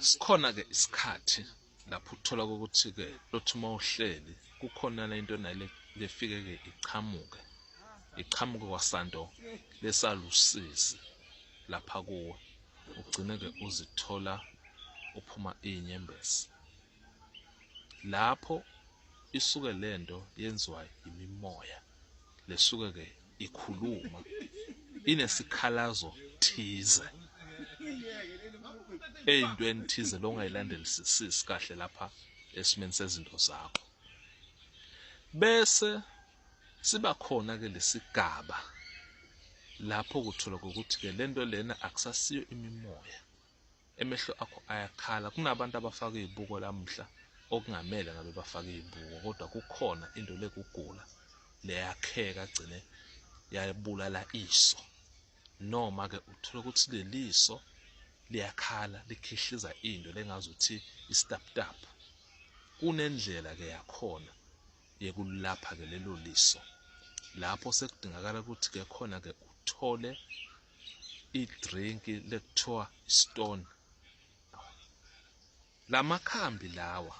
Sikhona-ke isikhathi lapho uthola ukuthi-ke lothi uma uhleli kukhonana into nale lefike-ke iqhamuke iqhamuke kwasanto lesalusizi lapha kuwe ugcine-ke uzithola uphuma iy'nyembezi. Lapho isuke lento yenziwa yimimoya lesuke ke ikhuluma inesikhalazo thize eyintweni thize longayilandelisisisi kahle lapha esimeni sezinto zakho bese siba khona ke lesigaba lapho kuthola ukuthi ke lento lena akusasiyo imimoya Emehlo akho ayakhala. Kunabantu abafaka izibuko lamuhla okungamele ngabe bafaka izibuko kodwa kukhona into lekugula leyakheka gcine yabulala iso. Noma ke uthola ukuthi leliso liyakhala likhihliza into lengazi ukuthi istaptapu. Kunendlela ke yakhona yekulapha ke lelo liso. Lapho sekudingakala ukuthi ke khona ke uthole idrink lekuthiwa stone lamakhambi lawa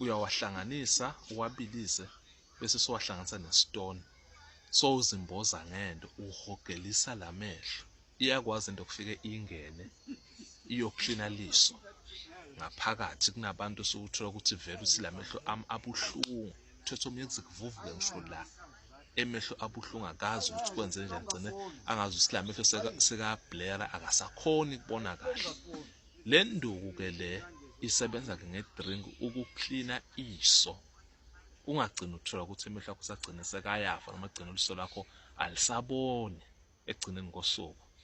uyawahlanganisa uwabilise bese siwahlanganisa nestone so uzimboza ngento uhogelisa lamehlo iyakwazi into kufike ingene iyoklina liso ngaphakathi kunabantu sokuthola ukuthi vele uthi lamehlo ami abuhlungu uthethe omyekuzikuvuvuke ngisho la emehlo abuhlungu akazi ukuthi kwenze njani gcine angazi ukuthi la mehlo sekabhlera akasakhoni kubona kahle le nduku ke le isebenza ke ngedrink ukuklina iso ungagcina uthola ukuthi emehlo akho sagcine sekayafa noma agcina uliso lakho alisaboni ekugcineni kosuku